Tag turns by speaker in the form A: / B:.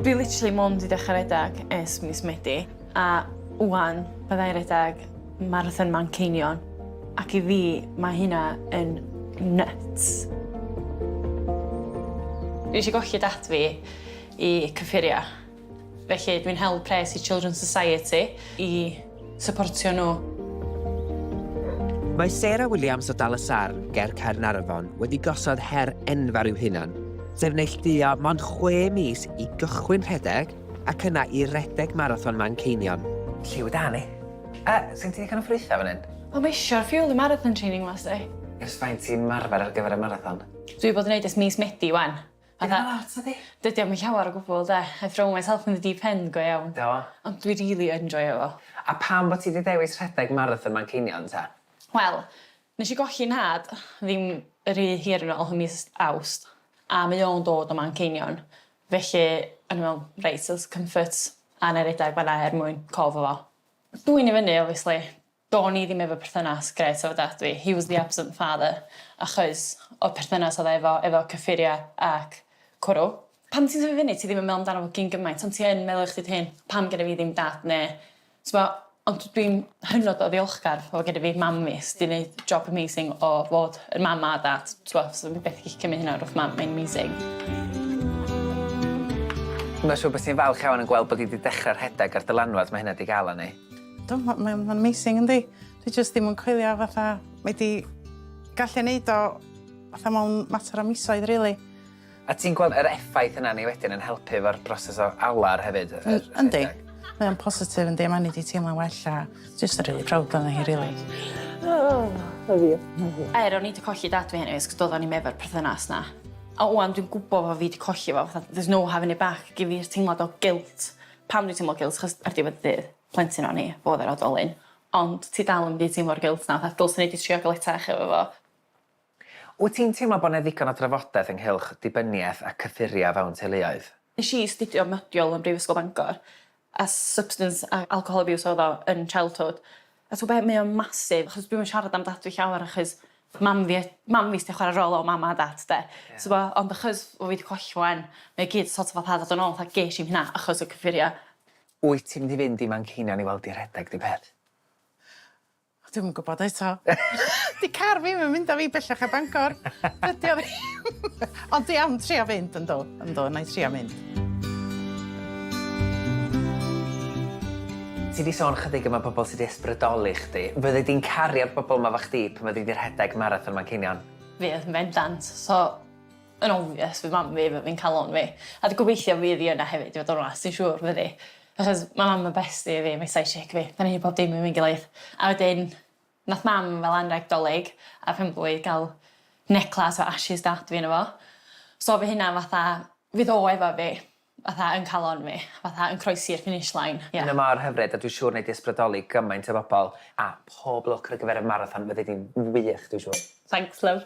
A: Dwi literally mond i ddechrau redag es mis Medi, a wan byddai redag Marathon Manceinion, ac i fi mae hynna yn nuts. Fi eisiau golli dad fi i cyffuria. Felly, dwi'n hel pres i Children's Society i syportio nhw. Mae
B: Sarah Williams o Dal y Sarn, ger Caernarfon, wedi gosod her enfawr i'w hunan, sef neilltuo mond chwe mis i gychwyn rhedeg ac yna i redeg marathon Manceinion. Lliw da ni.
C: A, sy'n ti ddigon o ffrwythau fan hyn? Wel, mae eisiau'r ffiwl
A: y marathon training last day. Ers faint ti'n
C: marfer ar gyfer y marathon? Dwi wedi bod yn neud ers
A: mis Medi wan. Fatha... Dim lot
C: ydi? Dydi o'm yn llawer
A: o gwbwl 'de? I throw myself in the deep end go iawn. Do. Ond dwi rili
C: yn
A: joio fo. A pam bo' ti 'di
C: dewis rhedeg marathon Manceinion ta? Wel,
A: nesh i golli 'nhad ddim ry hir yn ôl ym mis Awst a mae o'n dod o Manceinion felly o'n i me'wl reit so's comfort a 'nai redeg fan 'na er mwyn cof o fo. Dwyn i fyny obviously Do'n i ddim efo perthynas grêt efo dad fi, he was the absent father, achos o'r perthynas oedd e efo efo cyffuria ac cwrw. Pan ti'n tyfu fyny ti ddim yn meddwl amdano fo gyn gymaint ond ti yn meddwl i chdi dy hun, pam gynna fi ddim dad ne' t'mo'? Ond dwi'n hynod o ddiolchgar fod gyda fi mam fi sy 'di neud job amazing o fod yn mam a dad t'mo' so fi byth yn gallu cymyd hynna o'r wrth mam mae'n amazing.
C: Mae'n siŵr bo' ti'n falch iawn yn gweld bod 'i 'di dechre rhedeg ar dylanwad ma' hynna 'di ga'l arni. Mae'n
D: amazing yndi? Dwi jyst ddim yn coelio fatha mae 'di gallu neud o fatha mewn mater o misoedd rili. A ti'n gweld
C: yr effaith yna ni wedyn yn helpu efo'r broses o alar hefyd? Yndi.
D: Mae o'n positif yndi mae 'di teimlo'n well a jyst yn rili proud o'na hi rili. Love you. Love
A: you. Er o'n i 'di colli dad fi heno is 'c'os do'dd o'n i'm efo'r perthynas 'na. A ŵan dwi'n gwbo fo fi 'di colli fo fatha there's no having it back gin fi'r teimlad o guilt Pam dwi'n teimlo guilt? Achos ar diwedd y dydd, plentyn o'n i, fo oedd yr oedolyn. Ond ti dal yn mynd i teimlo'r guilt 'na fatha 'dylsen i 'di trio galetach efo fo'.
C: Wyt ti'n teimlo bod 'na ddigon o drafodaeth ynghylch dibyniaeth a cyffuriau fewn teuluoedd? Nes i astudio
A: modiwl ym Mhrifysgol Bangor a substance a alcohol abuse oedd o yn childhood. A t'o' be' mae o'n massive achos dwi'm yn siarad am dad fi llawer achos mam fi yy mam fi sy 'di chware rôl o mam a dat 'de. Ie. T'bo' ond achos bo' fi 'di colli fo 'wan mae o gyd so't of fatha dod yn ôl fatha gesh i'm hynna achos y cyffuria. Wyt ti mynd i
C: fynd i Manceinion i weld 'i rhedeg ne' beth?
D: O dwi'm yn gwbod eto. 'Di car fi'm yn mynd â fi bellach na Bangor. Dydi o ddim. Ond dwi am trio fynd yndw yndw 'nai trio mynd.
C: Ti 'di sôn chydig am y pobl sy 'di ysbrydoli chdi. Fyddi di'n cario'r bobl 'ma 'fo chdi pan fyddi di rhedeg Marathon Manceinion? Fydd, yn bendant.
A: So, yn obvious fydd mam fi, fi'n ca'l lon fi. A dwi gobeithio fydd 'i yna hefyd i fod yn onast, dwi'n siŵr fydd 'i. Achos ma' mam yn bestie i fi, mae 'i sidechick fi. 'Da ni'n neud pob dim efo'n gilydd. A wedyn Nath mam fel anreg 'Dolig a phenblwydd ga'l neclâs o ashes dad fi yno fo. So fy hunan fatha fydd o efo fi fatha yn calon fi fatha yn croesi'r finish line ie. Yna mor hyfryd a
C: dwi siŵr nei di ysbrydoli gymaint o bobl a pob lwc ar y gyfer y marathon
A: fyddi
C: di'n wych dwi siŵr. Thanks love.